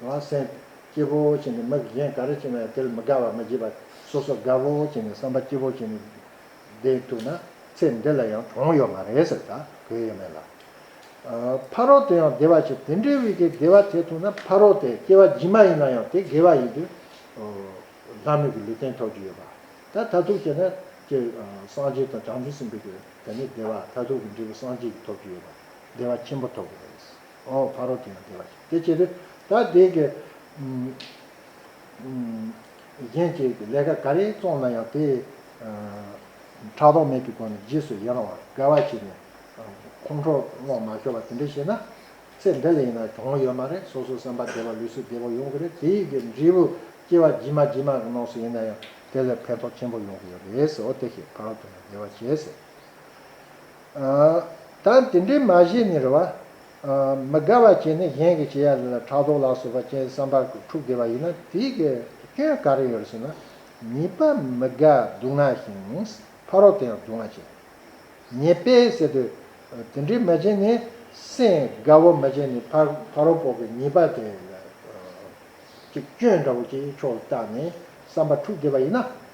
ང་སེམས། སྐྱིད་པོ་བྱས་ནས་མི་གཞན་ག་རེ་བྱས་ན་ཡང་དེ་ལ་མི་དགའ་བ་མི་བྱེད་པར་སོ་སོ་དགའ་པོ་བྱས་ནས་བསམ་པ་སྐྱིད་པོ་བྱས་ནས་བསྡད་འདུག་ན་ཚེ་འདི་ལ་ཡང་གྲོང་ཡོད་མ་རེད་ཟེར་ད་གོ་ཡས་མེད་ལ། ཕ་རོལ་དུ་ཡང་བདེ་བ་ཆེ་དེ་འདྲའི་བི་གའི་བདེ་བ་དེ་ཐོབ་ན་ཕ་རོལ་དེ་སྐྱེ་བ་རྗེས་མ་ཡིན་ན་ཡང་དེ་དགེ་བ་ཡིན་དུས། ལྷ་མོས་ཀྱི་ལུས་རྟེན་ཐོབ་ཀྱི་ཡོད་པ་ད་མཐར་ཐུག་བྱས་ན་ཀྱེ། སངས་རྒྱས་དང་བྱང་ཆུབ་སེམས་དཔའི་གོས་དེ་ནི་བདེ་བ་མཐར་ཐུག་གི་འབྲས་བུ་སངས་རྒྱས་ཀྱི་ཐོབ་ཀྱི་ཡོད་པ་བདེ་བ་ཆེན་པོ་ཐོབ་ཀྱི་རེད། ཨོ་བྷ་རོ་ཀྱི་ཡང་དེ་བ་ཞིག་དེ་ཕྱིར། ད་དེ་གི། གཞན་གཅེས་ཀྱི་ལས་ཀ་ག་རེ་བཙོང་ན་ཡང་དེ། ཕྲག་དོག་མེད་ཀྱི་སྒོ་ནས་རྗེས་སུ་ཡི་རང་བར་སྐལ་བ་བྱས་ནས། ཁོང་ཁྲོ་བསྔོག་མ་ཤོར་བ་དེ་འདྲས་བྱས་ན། ཚེ་འདི་ལས་ཡིན་ན་གྱོང་ཡོད་མ་རེད་སོ་སོ་སེམས་པ་བདེ་བ་ལུས་སུ་བདེ་བོ་ཡོང་གི་རེད་དེ་ཡིག་གི་འབྲས་བུ་སྐྱེ་བ་ཇི་མ་ཇི་མ་གི་ནང་སུ་ཡིན་ན་ཡང་དེ་ལས་ཕན་ཐོག་ཆེན་པོ་ཡོང་གི་ཡོད་རེད་ཟེར་ཨོ་དེ་ཤེས་བྷ་རོ་ཀྱི་ཡང་དེ་བ་བྱས་ཟེར། ད་དེ་འདྲའི་མ་བྱས་ནི་རེ་བ། མི་དགའ་བ་བྱས་ནི་གཞན་གྱི་བྱས་ཡ་ལ་ཕྲག་དོག་ལ་སོགས་པ་ཅན་བསམ་པ་འཁྲུགས་བདེ་བ་ཡིན་ན་དེའི་སྐྱོན་ག་རེ་ཡོད་རེ་ཟེར་ན། ཉེས་པ་མི་དགའ་སྡུག་བསྔལ་ཞིང་ཕ་རོལ་དེ་ཡང་སྡུག་བསྔལ་བྱེད། ཉེས་པས་བསལ་དུས། དེ་འདྲའི་མ་བྱས་ནི་སེམས་དགའ་བོ་མ་བྱས་ནི་ཕ་རོལ་པོ་གི་ཉེས་པ་དེ་ལ་སྐྱོན་འདྲ་བོ་ཅིག་ཕྱོགས་ལ་བཏགས་ནས་བསམ་པ་འཁྲུགས་བདེ་བ་ཡིན་ན།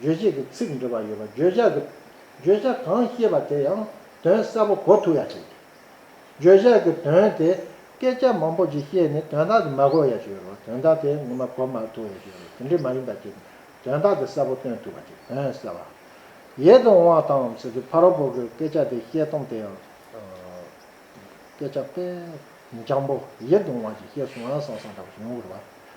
རྗོད་བྱེད་ཀྱི་ཚིག་འབྲི་བ་ཡོད་པ་བརྗོད་བྱ་གི་བརྗོད་བྱ་གང་ཤེས་པ་དེ་ཡང་དོན་གསལ་པོ་གོ་ཐུབ་ཡ་བྱེད་དགོས། བརྗོད་བྱ་གི་དོན་དེ་སྐད་ཆ་མང་པོ་ཞིག་བཤད་ནས་དོན་དག་དེ་མ་གོ་ཡ་བྱེད་རོགས་དོན་དག་དེ་ངོ་མ་གོ་མ་ཐུབ་ཡ་བྱེད་རོགས་དེ་འདྲས་མ་ཡིན་པ་ཅིག་དོན་དག་དེ་གསལ་པོ་སྟོན་ཐུབ་པ་ཅིག་དོན་གསལ་བ་ཡེད་དུ་འོང་བ་དང་ཟེར་གི་ཕ་རོགས་པོ་གི་སྐད་ཆ་དེ་བཤད་སྟངས་དེ་ཡང་སྐད་ཆ་དཔེ་འཇམ་པོ་ཡེད་དུ་འོང་བ་ཅིག་བཤད་སོང་ཨང་སང་སང་འདྲ་པོ་ཞིག་ཡོང་གི་རེད་བ།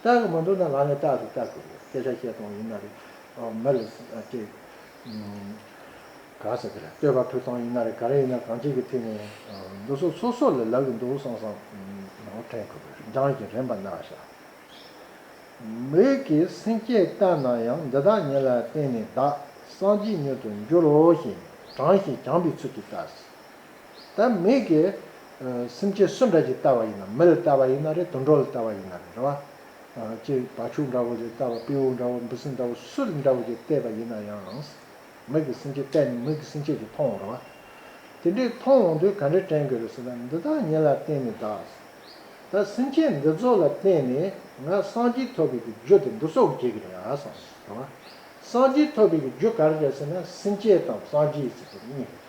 སྟག་གི་མ་འདུག་ན་ལག་ནས་སྟག་ཟེར་སྟག་གི་རེད་སྐད་ཆ་བཤད་སྟངས་ཡིན་ན་རེད། མ་རེད། ཀྱེ། ག་ཟེར་གི་རེད་བསྟོད་པ་ཕུལ་སྟངས་ཡིན་ན་རེད་ག་རེ་ཡིན་ན་གང་བྱེད་ཀྱི་ཕུལ་ནས། འདུག་སོ་སོ་སོ་ལས་ལབ་ཀྱི་འདུག་བསམ་བསམ། ནོར་འཁྲེན་དགོས་པའི་སྦྲང་གི་རེད་འབའ་ན་ཤ། མོད་ཀྱི་སེམས་སྐྱེད་ལྟར་ན་ཡང་འདི་དག་ཉིད་ལ་བརྟེན་ནས་བདག་སངས་རྒྱས་མྱུར་དུ་འགྱུར་རོ་ཞེས་དྲང་ཞིང་བྱང་པའི་ཚུལ་གྱིས་བལྟ། ད་མིག་གིས་སེམས་ཅན་སུ་འདྲ་ཅིག་བལྟ་བ་ཡིན་ན་མི་ལ་བལྟ་བ་ཡིན་ན་རེད་དུད་འགྲོ་ལ་བལྟ་བ་ཡིན་ན་རེད་རེད་བ། ཅེས་བ་ཕྱུགས་འདྲ་བོ་ལ་བལྟ་བ་སྤེའུ་འདྲ་བོ་འབུ་སྲིན་འདྲ་བོ་སུ་ལ་འདྲ་བོ་ཅིག་བལྟས་པ་ཡིན་ན་ཡང། མིག་གིས་སེམས་ཅན་བལྟས་ནས་མིག་གིས་སེམས་ཅན་གྱིས་མཐོང་འོང་རེད་བ། དེ་འདྲས་མཐོང་འོང་དུས་ག་འདྲས་དྲན་དགོས་རེད་ཟེར་ན་འདི་དག་ཉིད་ལ་བརྟེན་ནས་གདའ། ད་སེམས་ཅན་འདི་ཚོ་ལ་བརྟེན་ནས་ང་སངས་རྒྱས་ཐོབ་པའི་གི་རྒྱུ་དེ་འདི་སོགས་བརྒྱད་ཀྱི་རེད་ཨ་སོང་རེད་བ། སངས་རྒྱས་ཐོབ་པའི་གི་རྒྱུ་ག་རེ་རེད་ཟེར་ན་སེམས་ཅན་དང་སངས་རྒྱས་ཟེར་བ་གཉིས་རེད།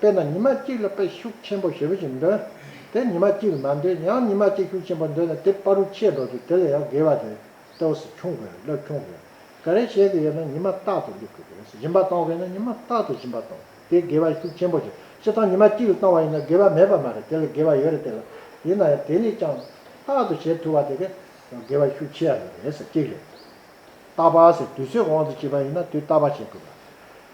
དཔེར་ན་ཉི་མ་གཅིག་ལ་དཔེ་ཤུགས་ཆེན་པོ་ཞེ་པོ་ཞིག་འདོན་ཏེ་ཉི་མ་གཅིག་ལ་མ་འདོན་ཡང་ཉི་མ་གཅིག་ཤུགས་ཆེན་པོ་འདོན་ན་དེ་དཔའ་རུ་ཆེས་འགྲོ་སྟེ་དེ་ལ་ཡང་དགེ་བ་དེ་ལྟ་བུ་སུ་ཆུང་དགོས་སློབ་ཆུང་དགོས་ག་རེ་བྱེད་ཀྱི་ཡོད་ན་ཉི་མ་རྟག་ཏུ་སླེབ་དགོས་དེ་ཞིམ་པ་གཏོང་དགོས་ན་ཉི་མ་རྟག་ཏུ་ཞིམ་པ་གཏོང་དགོས་དེ་དགེ་བ་ཤུགས་ཆེན་པོ་ཆེ་ཆེ་དང་ཉི་མ་གཅིག་ལ་བཏང་བ་ཡིན་ན་དགེ་བ་མེད་པ་མ་རེད་དེ་ལ་དགེ་བ་ཡོད་རེད་དེ་ལ་ཡིན་ན་ཡང་དེ་ལས་ཀྱང་རྟག་ཏུ་བྱེད་ཐུབ་པ་དེ་དགེ་བ་ཤུགས་ཆེ་ཡང་རེད་གཅིག་རེད། རྟག་པར་ཟེར་དུས་ཚོད་དབང་དུ་བྱེད་པ་ཡིན་ན་དུས་རྟག་པར་བྱེད་དགོས་པ།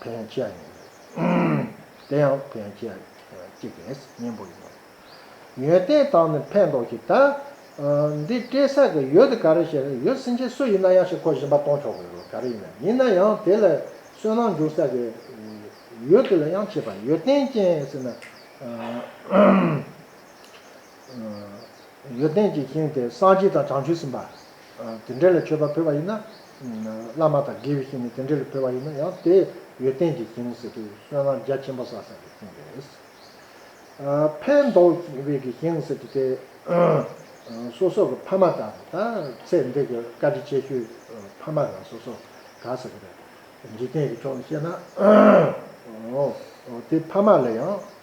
ཕན་བསྐྱེད་ཡིན། དེ་ཡང་ཕན་བསྐྱེད་ཀྱི་གཉེན་པོ་ཡིན། ཡོན་ཏན་དང་ནི་ཕན་འདོགས་ཀྱི་ད། འདི་སྤྲད་ས་གི་ཡོད་དེ་ག་རེ་བྱེད་རེད་ཡོད་སེམས་ཅན་སུ་ཡིན་ན་ཡང་ཞིག་ཁོ་གཞན་པ་གཏོང་ཆོག་གི་རེད་ག་རེ་ཡིན་ན་ཡིན་ན་ཡང་དེ་ལ་བསོད་ནམས་འཇུག་ས་གི་ཡོད་དེ་ལ་ཡང་བྱེད་པ་ཡོད་ཏན་ཅན་ཟེར་ན། ཡོན་ཏན་གྱི་ཤིང་དེ་སངས་རྒྱས་དང་བྱང་ཆུབ་སེམས་དཔའ་དེ་འདྲ་ལས་མཆོད་པ་ཕུལ་བ་ཡིན་ན། བླ་མ་དང་དགེ་བའི་བཤེས་གཉེན་དེ་འདྲ་ལས་ཕུལ་བ་ཡིན་ན་ཡང་དེ་ཡོན་ཏན་གྱི་ཤིང་ཟེར་གྱི་བསོད་ནམས་རྒྱ་ཆེན་པོ་བསགས་ཟེར་བའི་ཤིང་རེད། ཕན་འདོགས་བའི་གི་ཤིང་ཟེར་གྱི་དེ། སོ་སོ་གི་ཕ་མ་དང་ཚེ་འདས་ཀྱི་བཀའ་དྲིན་ཆེ་ཤོས་ཕ་མ་རང་སོ་སོ་ག་ཟེར་གི་རེད། འཇིག་རྟེན་གྱི་ཕྱོགས་ནས་བཤད་ན། དེ་ཕ་མ་ལ་ཡང།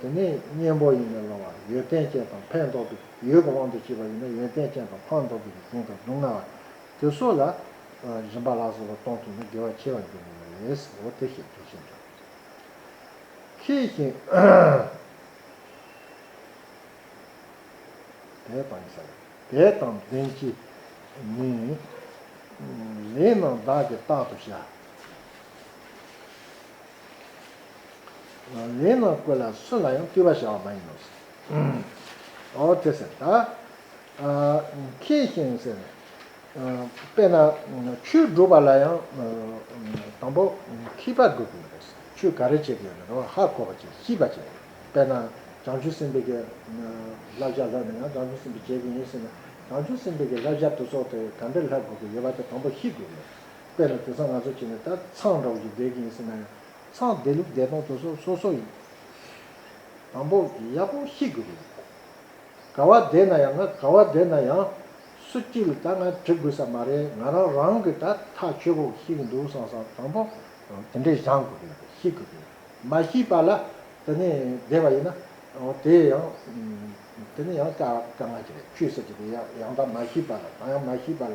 དེ་ནི་གཉེན་པོ་ཡིན་པས་སློང་བ་ཡོན་ཏན་ཅན་དང་ཕན་འདོགས་པའི་ཡུལ་གྱི་དབང་དུ་བྱས་པ་ཡིན་ན་ཡོན་ཏན་ཅན་དང་ཕངས་འདོགས་པའི་གཟིངས་དང་སྡུག་བསྔལ་བ་དེ་སོགས་ལ། རིམ་པ་ལ་སོགས་པ་སྟོང་ཐུག་ན་དགེ་བ་ཆེ་བར་འགྱུར་བས་འོ་དེ་ཞེས་བརྗོད་བཞིན་དུ། མཁས་ཤིང། དད་དང་བྱ། དད་དང་ལྡན་གྱིས་ནི། ལེགས་སྣང་བདག་གིས་རྟག་ཏུ་བྱ། ལས་རྣམས་བཀོད་ལ་སུ་ལ་ཡང་བརྟུལ་བ་བྱ་བ་མ་ཡིན་ནོ། འོ་དེ་ཟེར། ཁྱེད་བཞིན་ཟེར། དཔེར་ན་ཆོས་སྒྲུབ་པ་ལ་ཡང་དང་པོ་མཁས་པ་དགོས་ཀྱི་ཡོད་རེད། ཆོས་ག་རེ་བྱེད་ཀྱི་ཡོད་རེད་རོ་ཧ་གོ་བ་བྱེད་ཤེས་པ་བྱེད། དཔེར་ན་བྱང་ཆུབ་སེམས་དཔའི་བསླབ་བྱ་ལྷོད་མེད་ངང་བྱང་ཆུབ་སེམས་དཔས་བྱེད་ཀྱི་ཡིན་ཟེར་ན་བྱང་ཆུབ་སེམས་དཔའི་བསླབ་བྱ་དུ་ཚོགས་དེ་ག་འདྲ་ལྷག་དགོས་ཀྱི་ཡོད་པ་དེ་དང་པོ་ཤེས་དགོས་ཀྱི་ཡོད། དཔེར་ན་དེང་སང་ང་ཚོ་བྱས་ནས་ད་ཚངས་འདྲ་བོ་ཞིག་བསྡད་ཀྱི་ཡིན་ཟེར་ན་ཡང། ཚངས་བསྡད་ལུགས་བསྡད་སྟངས་དོན་སོ་སོ་སོ་ཡིན། དང་པོ་ཡག་པོ་ཤེས་དགོས་རེད། ག་བ་བསྡད་ན་ཡང་ང་ག་བ་བསྡད་ན་ཡང། སུ་གཅིག་ལ་ད་ང་དྲི་དགོས་ས་མ་རེད་ང་རང་རང་གི་ད་ཐག་ཆོད་པོ་ཤེས་ཀྱི་འདུག་སང་སང་དང་པོ་དེ་འདྲས་བཞག་དགོས་རེད་ཤེས་དགོས་རེད། མ་ཤེས་པ་ལ་ད་ནི་བསྡད་པ་ཡིན་ན་དེ་ཡང་དེ་ནི་ཡང་དཀའ་ངལ་གྱི་རེད་ཆུད་ཟེར་གྱི་རེད་ཡང་དག་མ་ཤེས་པ་ལ་ད་ཡང་མ་ཤེས་པ་ལ་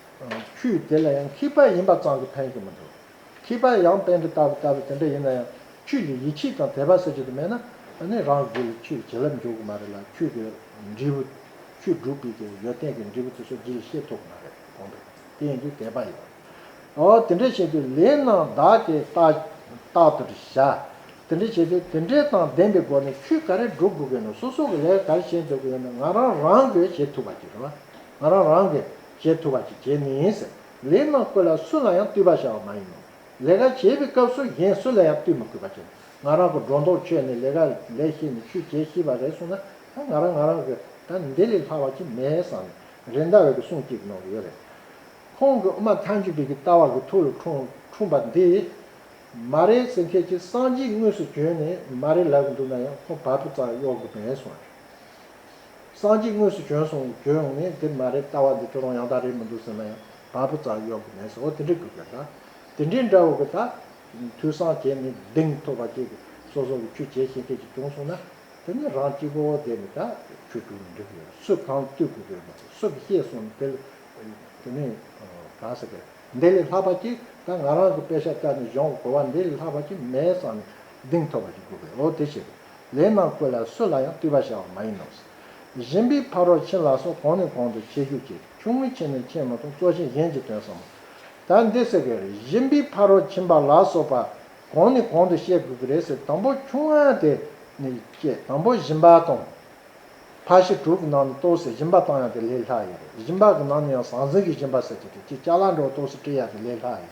ཁྱོད་དེ་ལ་ཡང་ཁྱི་ཕག་ཡིན་པ་ཙམ་གྱིས་ཕན་གྱི་མི་འདུག། ཁྱི་ཕག་ཡང་བན་གྱི་རྟ་བུ་ལྟ་བུ་དེ་འདྲ་ཡིན་ན་ཡང་ཁྱོད་ཀྱིས་ཡིད་ཆེས་དང་དད་པ་ཟེར་རྒྱུ་དེ་མེད་ན་ནི་རང་གི་རྒྱུད་ལ་ཁྱོད་ཀྱི་བྱིན་རླབས་འཇུག་གི་མ་རེད་ལ་ཁྱོད་ཀྱི་འབྲས་བུ། ཁྱོད་སྒྲུབ་པའི་གི་ཡོད་ཏན་གྱི་འབྲས་བུ་དེ་ཚོ་འདི་ལས་ཤེས་ཐུབ་གི་མ་རེད་གོང་པས་དེ་ཡིན་དུས་དད་པ་ཡོད། ཨོ་དེ་འདྲ་བྱེད་དུས་ལས་རྣམས་བདག་གིས་རྟག་རྟག་ཏུ་བྱ། དེ་འདྲ་བྱེད་དུས་དེ་འདྲའི་དང་ལྡན་པའི་སྒོ་ནས་ཁྱོད་ག་རེ་སྒྲུབ་དགོས་ཀྱི་ཡོད་ན་སོ་སོ་གི་ལས་ག་རེ་བྱེད་འདོད་ཀྱི་ཡོད་ན་ང་རང་རང་གིས་བྱེད་ཐུབ་པ་གྱིས་རེད་བ། ང་རང་རང་གིས། བྱེད་ཐུབ་པ་ཞིག་བྱས་ནས། ལས་རྣམས་བཀོད་ལ་སུ་ལ་ཡང་བསྟུད་པར་བྱ་བ་མ་ཡིན་ནོ། ལས་ཀ་བྱེད་པའི་སྐབས་སུ་གཞན་སུ་ལ་ཡང་བསྟུད་མི་དགོས་པ་བྱས་ན་ང་རང་གི་སྒྲོ་འདོགས་ཆོད་ནས་ལས་ཀ་ལས་ཤེས་ནས་ཆུ་བྱས་ཤེས་པ་རེད་གསུངས་ན་ང་རང་ང་རང་གི་ད་འདི་ལས་ལྷག་པ་ཅིག་མེད་བསམ་ནས་རེད་ཟླ་བས་ཀྱི་གསུང་གཅིག་གི་ནང་དུ་ཡོད་རེད། ཁོང་གི་ཨུ་མ་མཐའ་མཇུག་གི་གི་ལྟ་བ་གི་ཐུགས་ལ་འཁྲུངས་པ་འདི། མ་རེད་ཟེར་མཁན་གྱི་སངས་རྒྱས་དངོས་སུ་བྱོན་ནས་མ་རེད་ལབ་ཀྱི་འདུག་ན་ཡང་ཁོང་བར་པོ་ཙམ་གཡོག་གི་མེད་གསུངས་པ་རེད། སང་གཅིག་དངོས་སུ་བྱོན་སོང་བརྗོད་ཡོང་ནས་འདིར་མ་རེད་ལྟ་བ་འདི་ཁྱོད་རང་ཡང་དག་རེད་མི་འདུག་ཟེར་ན་ཡང་བ་སྤུ་ཙག་གཡོག་གི་མེད་ཟེར་འོ་དེ་འདྲའི་དགོས་གལ་འདྲ། དེ་འདྲའི་འདྲ་བོ་གི་ད་དུས་སང་བྱས་ནས་གདེང་ཐོབ་པ་ཅིག་སོ་སོ་གི་ཆུ་བྱས་ཤེས་མཁན་ཅིག་བྱུང་སོང་ན་དེ་ནས་རང་གཅིག་པོ་བསྡད་ནས་ད་ཆོས་དྲུག་ནས་འགྲིག་གི་ཡོད་སུས་གང་བསྟུད་དགོས་གལ་མེད་སུ་གི་ཤེས་སོང་ནས་དེ་ལས་དེ་ནས་གང་ཟེར་གལ་འདི་ལས་ལྷག་པ་ཅིག་ད་ང་རང་གི་དཔེ་ཤ་བཀྲ་ནས་བཞོངས་གོ་བ་འདི་ལས་ལྷག་པ་ཅིག་མེད་བསམ་ནས་གདེང་ཐོབ་པ་ཅིག་དགོས་གལ་འོ་དེ་བྱས་ལས་རྣམས་བཀོད་ལ་སུ་ལ་ཡང་བརྟུལ་བར་བྱ་བ་མ་ཡིན་ནོ། གཞན་པའི་ཕ་རོལ་ཕྱིན་ལ་སོགས་གོང་ནས་གོང་དུ་འཆད་ཞུ་བྱེད་དེ་ཆུང་ངུའི་ཆེ་ནས་ཆེས་མ་ཐོགས་གཙོ་ཆེན་གཞན་གྱི་དོན་བསམ་མོ། ད་འདི་ཟེར་དགོས་རེད་གཞན་པའི་ཕ་རོལ་ཕྱིན་པ་ལ་སོགས་པ་གོང་ནས་གོང་དུ་བཤད་དགོས་ཀྱི་རེད་ཟེར་དང་པོ་ཆུང་བ་དེ་ནི་བསྐྱེད་དང་པོ་གཞིན་པ་དང། ཕ་བཞི་དྲུག་གི་ནང་ནས་གཏོགས་སའི་གཞིན་པ་བཏང་ཡང་དེ་ལས་ལྷག་ཡོད་རེད་གཞིན་པ་གི་ནང་ནས་ཡང་ཟང་ཟིང་གི་གཞིན་པ་ཟེར་གྱི་རེད་ཀྱི་ལྕགས་ལ་འགྲོ་གཏོགས་སུ་བཀྲི་ཡ་དེ་ལས་ལྷག་ཡོད་རེད།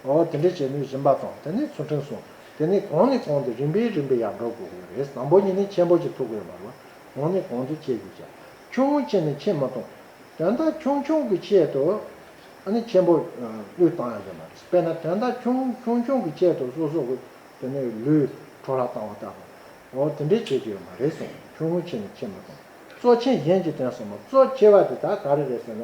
འོ་དེ་འདྲས་བྱས་ནུས་བཞིན་པ་དང་དེ་ནས་ཚུར་ཕྲེང་སོང་དེ་ནས་གོང་ནས་གོང་དུ་རིམ་པས་རིམ་པས་ཡར་འགྲོ་དགོས་ངེས་རེད་དང་པོ་ཉིད་ནས་ཆེན་པོ་གཅིག་ཐུག་དགོས་པ་ལ་གོང་ནས་གོང་དུ་ཆས་དགོས་ཀྱང་ཆུང་ངུ་ཆེ་ནས་ཆས་མ་ཐུབ། དོན་དག་ཆུང་ཆུང་གི་ཆེད་དུ་ཨ་ནི་ཆེན་པོ་བློས་བཏང་ཡ་རེད་མ་རེད་དཔེར་ན་དོན་དག་ཆུང་ཆུང་ཆུང་གི་ཆེད་དུ་སོ་སོ་གི་དེ་ནས་ལུས་འཕྲོ་བརླག་བཏང་བ་ལྟ་བུ་འོ་དེ་འདྲས་བྱེད་ཀྱི་ཡོད་མ་རེད་སོང་ཆུང་ངུ་ཆེ་ནས་ཆས་མ་ཐུབ། གཙོ་ཆེན་གཞན་གྱིས་དོན་ཟབ་མོ་གཙོ་ཆེ་བ་དེ་དག་ག་རེ་རེད་ཟེར་ན